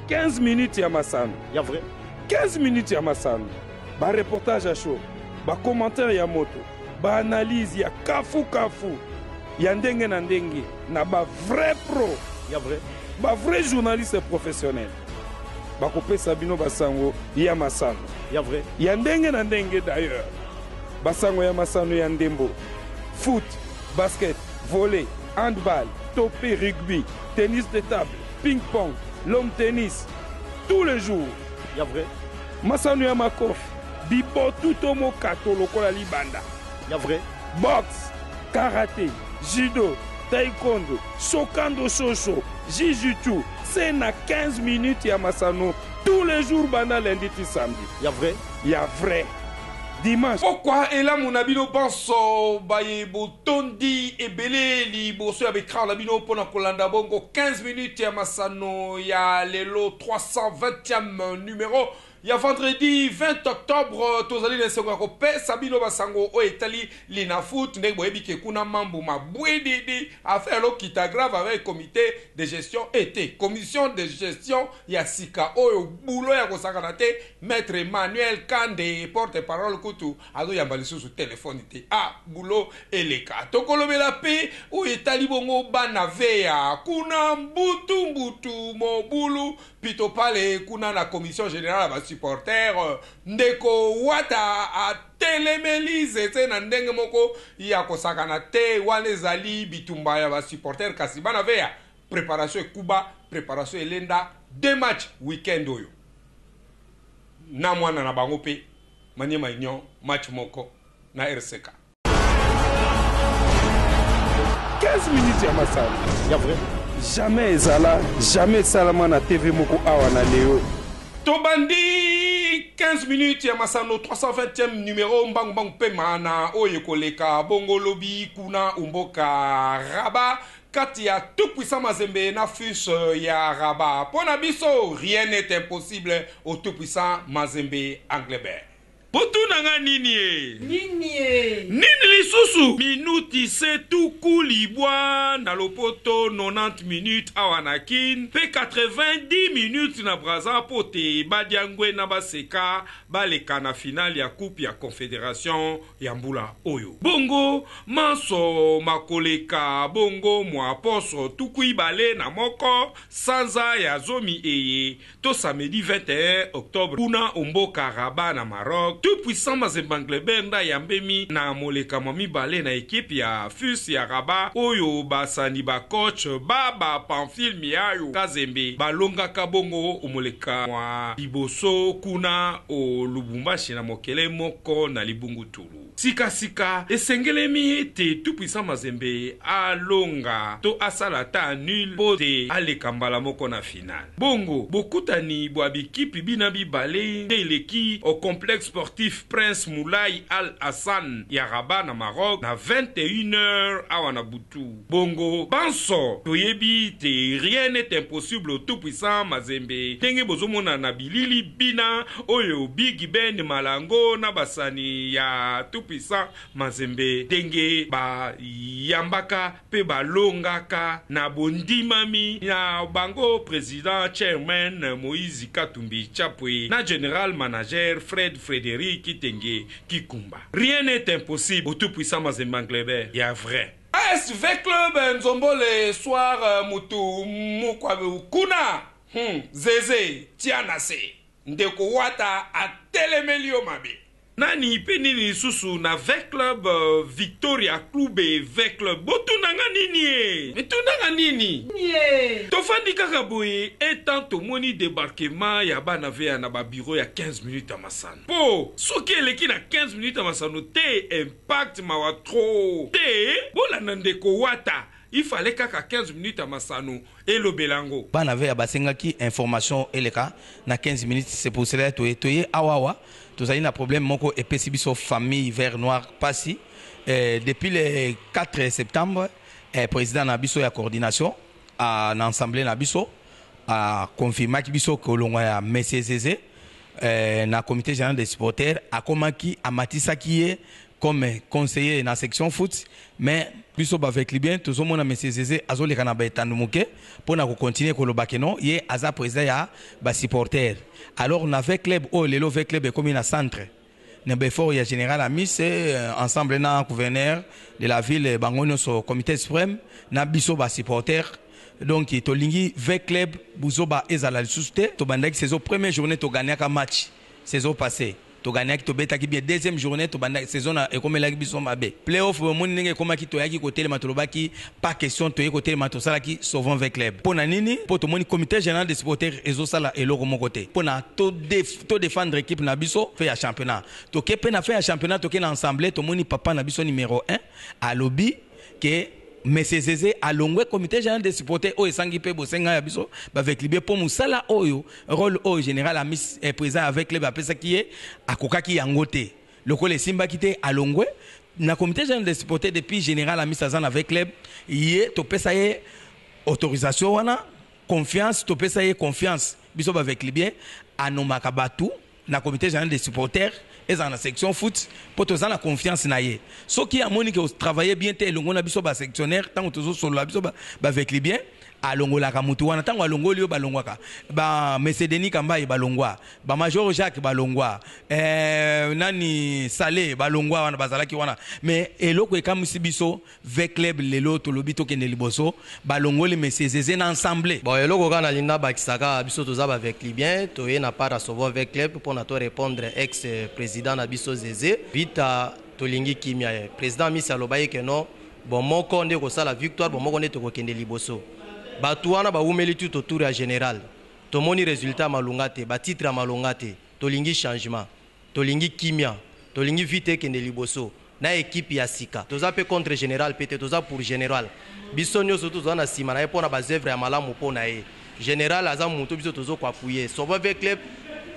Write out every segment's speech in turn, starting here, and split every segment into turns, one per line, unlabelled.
15 minutes ya masano ya vrai
15 minutes ya
masano ba reportage ya show ba commentaire ya moto ba analyse ya kafu kafu ya ndenge na ndenge na ba vrai pro ya vrai
ba vrai journaliste
professionnel bakopesa bino basango ya masano ya vrai ya
ndenge na ndenge
d'ailleurs basango ya masano ya ndembo foot basket volley Handball, tope, rugby, tennis de table, ping pong, lawn tennis, tous les jours. Ya vrai.
Masano ya
makofi, bibotu to mokato lokola libanda. Ya vrai.
Boxe,
karate, judo, taekwondo, sokando soso, jijutsu, se na 15 minutes ya masano tous les jours banda lundi ti samedi. Ya vrai. Ya
vrai.
Dimanche. Pokwa elamu
na bino banso baye bo Tondi ebele liboso ya ba ecrans na bino mpo na kolanda bongo 15 minutes ya masano ya lelo 320eme numero ya vendredi 20 octobre. Tozali na esengo ya kopesa bino ba sango oyo etali Linafoot. Ndenge boyebi ke kuna mambu mabwididi, affaire elokita grave avec comite de gestion et te, commission de gestion ya sika oyo boulot ya kosakana te, maitre Emmanuel Kande, porte parole kutu, Azo yamba lisusu telephone te ah boulot eleka toko lobela pe oyo etali bongo bana vea kuna mbutu mbutu mobulu pito pale kuna na commission general ya ba supporter ndeko wata a telemeli zeze na ndenge moko ya ko sakana te wana ezali bitumba ya ba supporter kasi bana vea preparation ekuba preparation elenda deux match weekend oyo na mwana na bango pe Maniema Union match moko na RCK. 15
minutes ya masano ya vrai.
Jamais ezala,
jamais esalama na TV moko awa na Leo. Tobandi 15
minutes ya masano 320e numero mbangu mbangu pema na oyo ekoleka bongo lobi kuna omboka Rabat. kati ya tout puissant mazembe na fus ya rabat po na biso rien n'est impossible au tout puissant mazembe englebert. Botuna nga nini ee. Nini ee. Nini lisusu. Minuti se tuku libwa na lopoto 90 minutes awa na kin pe 90 minutes na brazza po te ba diangue na ba seka baleka na finale ya coupe ya confederation ya mbula oyo. Bongo manso makoleka bongo mwa poso tuku ibale na moko, sanza ya zomi eye, to samedi 21 octobre, kuna o mboka Rabat na Maroc, Tout Puissant Mazembe Englebert nde ayambemi na moleka mwa mibale na equipe ya FUS ya Rabat oyo basani ba coach ba ba Pamphile Miayo Kazembe balongaka bongo o moleka mwa liboso kuna. o Lubumbashi na mokele moko na libungutulu. Sika sika, esengelemi ete Tout Puissant Mazembe alonga to asala ata nul mpo te aleka mbala moko na finale. Bongo, bokutani bwa bikipi bina bibale nde eleki o Complexe Sportif Prince Moulay Al Hassan ya Rabat na Maroc na 21 heures awa na butu. Bongo banso toyebi te rien n'est impossible au tout puissant mazembe ndenge bozo mona na bilili bina oyo biggy ben malango na basani ya tout puissant mazembe ndenge ba yambaka pe ba longaka na bondimami na bango president chairman moise katumbi chapwe na general manager fred frederic kitenge kikumba rien n'est impossible au tout puissant mazembe englebert ya vrai. AS V club nzombole soir mutu mukwa kuna hum zeze tia na se ndeko wata atelemeli yo mabe. Nani pe nini lisusu na V club victoria clube V club botuna nga niniee. Mituna nga nini niee. Tofandi kaka boye un temps tomoni debarquement ya bana vea na ba bureau ya 15 minutes ya masano po soki eleki na 15 minutes ya masano te un Pacte mawa trop. Te bolanda ndeko wata il fallait kaka 15 minutes ya masano elobela yango. Bana vea basengaki
information eleka na 15 minutes c'est pour cela toye toye awa awa tozali na problème moko epesi biso famille vert noir pasi eh, depuis le 4 septembre eh, president na biso ya coordination ah, na ensemble na biso a ah, confirmaki biso kolongwa ya monsieur Zeze eh, na comité général des supporters akomaki amatisaki ye comme conseiller na section foot mais biso baveclibien tozomona monsieur zeze azoleka na baetando moke mpo na kocontinue koloba ke non ye aza président ya basupporter alors na ve club oyo lelo ve club ekomi na centre na ba effort ya general amise ensemble na gouverneur de la ville bango nyonso comité supreme na biso ba supporters donc tolingi v club buzoba ezala lisusu te tobandaki saison première journée togagnaka match saison passee togagnaki tobetaki bien deuxième journée tobandaki saison na ekomelaki biso mabe playoff bomoni ndenge ekomaki toyaki kotelema tolobaki Pas question toye kotelema tosalaki sauvons ve club pona nini po tomoni comite general de supporter ezosala eloko moko te pona to def to defendre equipe na biso fe ya championnat toke pe na fe ya championnat toke na ensemble tomoni papa na biso numero 1 alobi ke monsieur zeze alongwe comite general de supporter oyo esangi pe bosenga ya biso ba veclibe po musala oyo role oyo general amis eh, president ya ve club apesaki ye akokaki yango te Lokola esimbaki te alongwe na comite general des supporters depuis general Amisi aza na V-Club ye topesa ye autorisation wana confiance topesa ye confiance biso ba V-Clubiens a nomaka batu na comite general des supporters ezala na section foot mpo toza na confiance na ye soki amoni que o travailler bien te elongo na biso ba sectionnaires ntango tozosolola biso ba V-Clubiens Alongolaka mutu wana tango alongoli yo balongwaka ba monsieur Denis kambayi balongwa ba major Jacques balongwa eeh nani sale balongwa wana bazalaki wana mais eloko ekamwisi biso vclub lelo tolobi tokende liboso balongoli monsieur zeze na ensemble. Bon eloko kaka nalingi
nabakisa kaka biso toza ba vclubien toye na part ya sovo vclub pona to repondre ex president na biso zeze vita tolingi kimia ye president amisi alobaki que non Bomoko nde ekosala victoire, bomoko nde tokokende liboso. Batu wana bawumeli tout autour ya general. Tomoni resultat ya malonga te, ba titres ya malonga te. Tolingi changement. Tolingi kimia. Tolingi vita ekende liboso na equipe ya sika. Toza mpe contre general mpe te, toza pour general. Biso nioso toza na sima na ye mpo na ba oeuvres ya malamu mpo na ye. General aza moto biso tozo ko appuyer Sobo vee club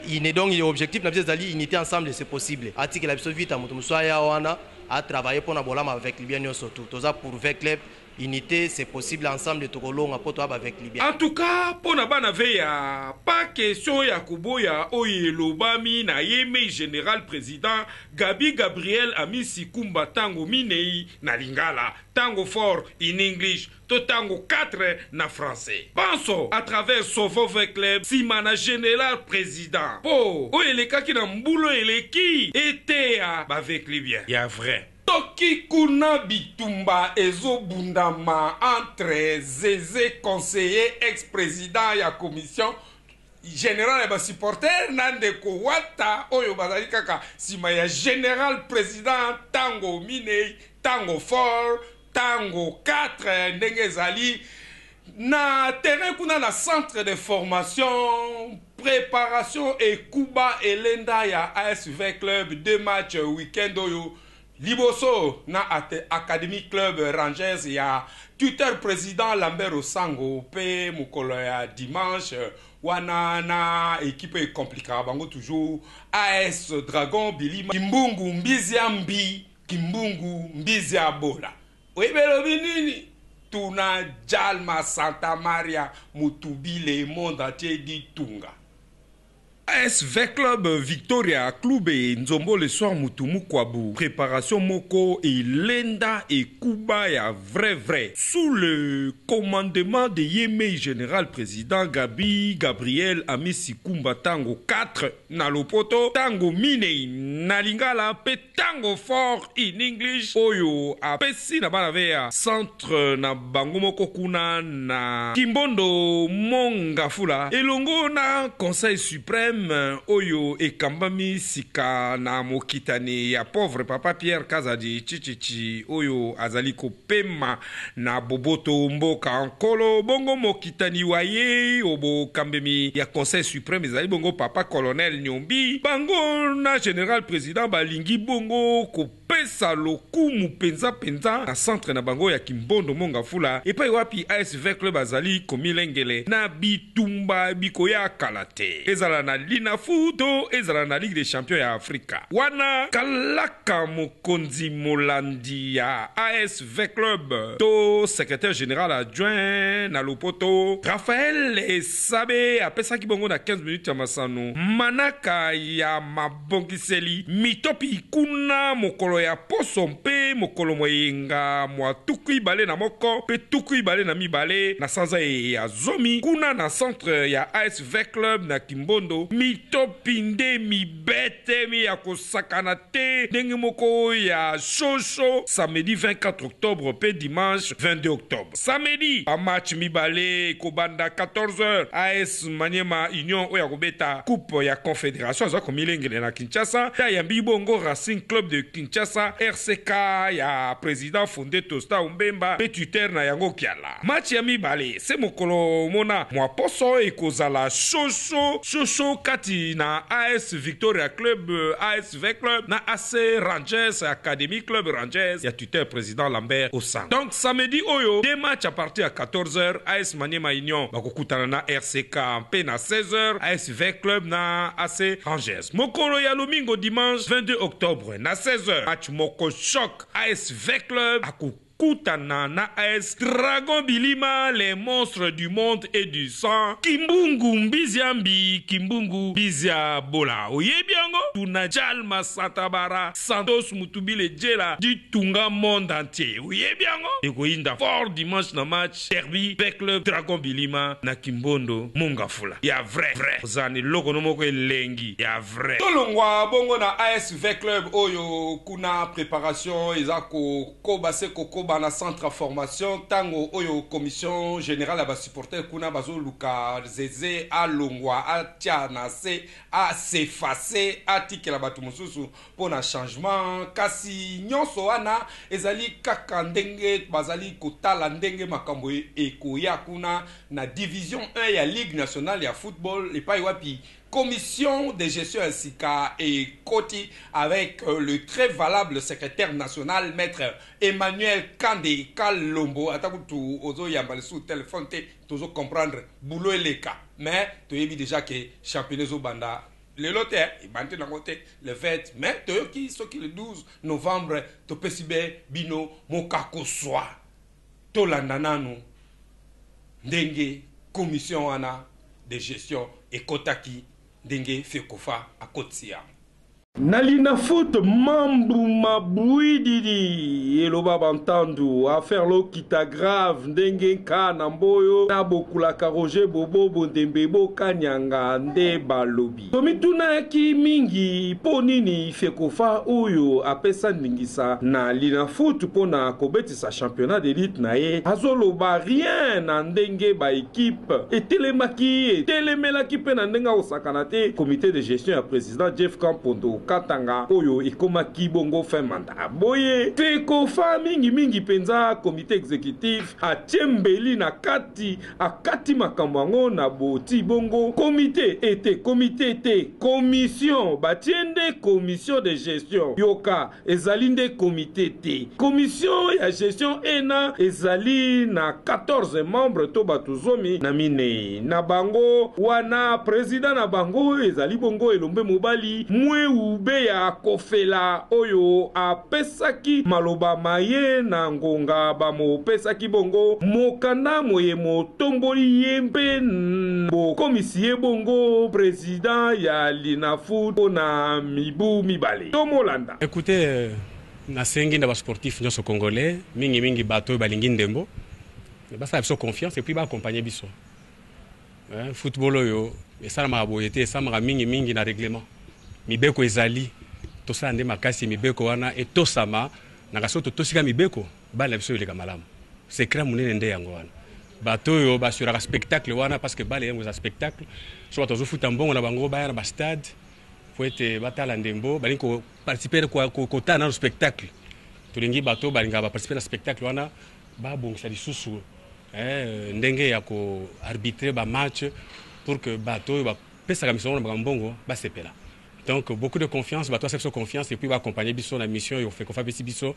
ine donc ye objectif na biso ezali unite ensemble c'est possible atikela biso vita moto mosusu aya wana a travailler pona bolamu ya ba veclubien nionso tout toza pour vee club unite c'est possible ensemble toko longa po toza ba veclubien. En tout cas pona
bana vea pas question ya koboya oyo elobami na ye mais general president Gaby Gabriel Amisi Kumba tango minei na lingala tango fort in English to tango quatre na français banso à travers sovove club sima na general president po oyo elekaki na mbula eleki eteya ba veclubien ya vrai. Soki kuna bitumba ezo bundama entre zeze conseiller ex president ya commission general ya ba supporter na ndeko wata oyo bazali kaka sima ya general president tango minei tango fort Tango quatre ndenge ezali na terrain kuna na centre de formation preparation ekuba elenda ya as vin club deux match week-end oyo liboso na academie club rangers ya tuteur president lambert osango pe mokolo ya dimanche wana na ekipe ecomplikaka bango toujours as dragon bilima kimbungu mbiziambi Kimbungu mbizi ya bola oyebi elobi nini? Tuna Djalma Santa Maria Mutubi le monde entier dit tunga. As vclub victoria club e nzombo le soir mutu mukwabu preparation moko elenda ekuba ya vrai vrai sous le commandement de ye mei general president gaby gabriel amisi kumba tango 4 na lopoto tango minei na lingala pe Tango fort in English oyo apesi na bana vea centre na bango moko kuna na Kimbondo Mont Ngafula elongo na Conseil supreme oyo ekambami sika na mokitani ya pauvre Papa Pierre Kazadi Tshitshitshi oyo azali kopema Na boboto o mboka Nkolo, bongo mokitani wa ye o bokambemi ya Conseil supreme ezali bongo Papa Colonel Nyombi. Bango na General President balingi bongo kopesa lokumu mpenza mpenza na centre na bango ya Kimbondo Mongafula, epai wapi ASVECL bazali komilengele na bitumba bikoya kala te, ezala na Linafu to ezala na Ligue des Champions ya Afrika. Wana kalaka mokonzi molandi ya AS. V-Club to secretaire general adjoint na lopoto, Raphael Esabe apesaki bongo na 15 minutes ya masano manaka ya mabongiseli mitopi kuna mokolo ya poso mpe mokolo mwa eyenga mwa tuku ibale na moko mpe tuku ibale na mibale na sanza eye ya zomi kuna na centre ya AS V-Club na Kimbondo mitopi nde mi Bethemy ya kosakana te ndenge moko ya Shosho samedi 24 octobre mpe dimanche 22 octobre. Samedi, ba matchs mibale ekobanda 14 heures, AS Maniema Union oyo akobeta coupe ya Confederation aza komilengele na Kinshasa mpe ayambi bongo Racing Club de Kinshasa, RCK, ya president Fondeto Stau Mbemba mpe tuteur na yango Kiala. Match ya mibale se mokolo mona mua poso ekozala shosho shosho kati na AS Victoria Club, ASV Club, na AC Rangers Academy Club Rangers ya tuteur President Lambert Osang. Donc samedi oyo deux matchs à partir ya 14 heures, AS Maniema Union bakokutana na RCK mpe na 16 heures ASV Club na AC Rangers. Mokolo ya lomingo dimanche 22 octobre na 16 heures match moko choc, ASV Club ako Kutana na as dragon bilima le monstre du monde et du sang kimbungu mbizia mbi kimbungu mbizia bola oyebi yango tuna djal masata bara santos mutubile djela ditunga monde entier oyebi yango ekoyinda fort dimanche na match derby ve club dragon bilima na kimbondo mongafula ya vrai vrai ozana eloko no moko elengi ya vrai. Tolongwa bongo na as ve club oyo kuna preparation eza ko. Koba se kokoba na centre ya formation tango oyo commission generale ya ba supporters kuna bazo luka Zeze alongwa atia na se a s'effacer atikela batu mosusu mpo na changement kasi nionso wana ezali kaka ndenge bazali kotala ndenge makambo ekoya kuna na division un ya ligue nationale ya football epayi wapi Commission de gestion ya sika ekoti avec le très valable secretaire national maitre Emmanuel Kande Kalombo ata kutu ozo yamba lisusu telephone te tozo comprendre boulot eleka mais toyebi dejà que championnat ezo banda lelo te ebandi nango te le 20 mais toyoki soki le 12 novembre topesi be bino mokakuswa. Tolanda nanu ndenge commission wana de gestion ekotaki ndenge fecofa akotisi yango. Na
linafoto, Mambu Mabuididi eloba Bantandu, affaire Lokita grave ndenge nka na Mboyo na Bokulaka Roger Bobo Bondembe Bo Kanyanga nde balobi. Tomitunaki mingi mpo nini Fecofa oyo apesa ndingisa na Linafoot mpo na kobetisa championnat de lutte na ye azoloba rien na ndenge ba equipes etelemaki, etelemelaki mpe na ndenge akosakana te comite de gestion ya president Jeff Kampondo Katanga oyo ekomaki bongo fin mandat. Boye, Fecofa, mingi mingi mpenza comite executif, atie mbeli na kati. akati makambo yango na boti bongo komite ete komite te commission batie nde commission de gestion yoka ezali nde komite te commission ya gestion ena ezali na 14 membre to bato zomi na minei na bango wana president na bango ezali bongo elombe mobali mweube ya kofela oyo a pesaki maloba maye na ngonga bamopesaki bongo mokanda moye motomboli ye mpe bokomisi ye bongo prezida ya linafoot mpo na mibu mibale tomolanda Ecoute,
nasengi na ba sportifs nionso congolais, mingi mingi bato oyo balingi ndembo, basala biso confiance et puis ba accompagner biso. Eh, football oyo esalamaka boye te, esalamaka mingi mingi na reglement. Mibeko ezali, tosala nde makasi mibeko wana etosama, na kasi totosika mibeko, bale na biso eleka malamu. Secret munene nde yango wana. Bato oyo basuraka spectacle wana parce que bale yango eza spectacle. So bato bazofuta mbongo na bango baya na ba stade mpo ete batala ndembo, balingi ko participer kotala nano spectacle. Tolingi bato balingaka ba participer na spectacle wana babongisa lisusu eh, ndenge ya ko arbitrer ba match pour que bato oyo bapesaka misolo na bango mbongo basepela donc beaucoup de confiance bato basala biso confiance epuis baakompagne biso na mission oyo fekofo apesi biso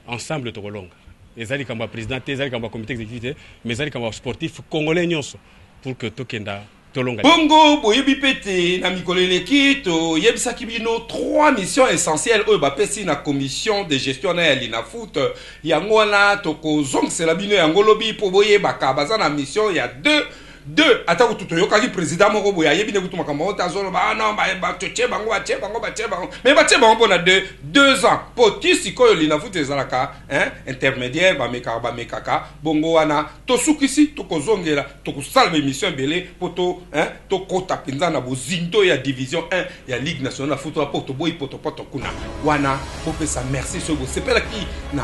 ensemble tokolonga eza likambo ya président te eza likambo ya comité exécutif te mais eza likambo ya sportif congolais nyonso pour que tokenda Tolonga. Bongo boyebi pe
te na mikolo eleki to yebisaki bino trois missions essentielles oyo ba pesi na commission de gestion na ya Linafoot, yango wana toko zongisela bino yango lobi po boyebaka baza na mission ya deux deux ata kutu toyokaki president moko boye ayebi nde kutu makambo yango te azo loba ah non ba to tie bango ba tie bango ba tie bango mais ba tie bango pona deux deux ans po ti sikoyo Linafoot ezalaka hein intermediaire ba mekaka ba mekaka bongo wana Tosukisi tokozongela tokosala ba emission ebele po to hein tokota penza na bozindo ya division un ya ligue nationale ya football po toboyi potopoto kuna wana bopesa merci soki bosepelaki na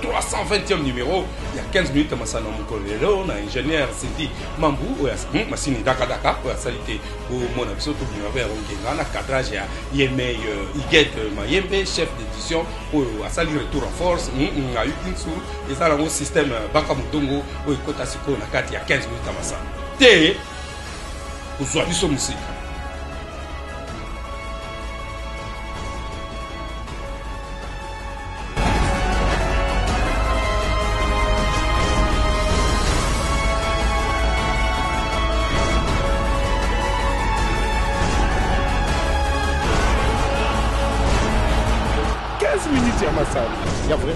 320e numero ya 15 minutes ya masano ya mokolo lelo na ingenieur Cindy Mambu oyo as- hmm, masini daka daka oyo asali te bomona biso tobima pe ya kongenga na cadrage ya yemei euh, Huguette Mayembe chef d'édition oyo asali retour en force hmm, hmm, ayuki nsu eza nango systeme ya baka motongo oyo ekota sikoyo na kati ya 15 minutes ya masano te kozwa biso
mosika minutes ya masano ya vrai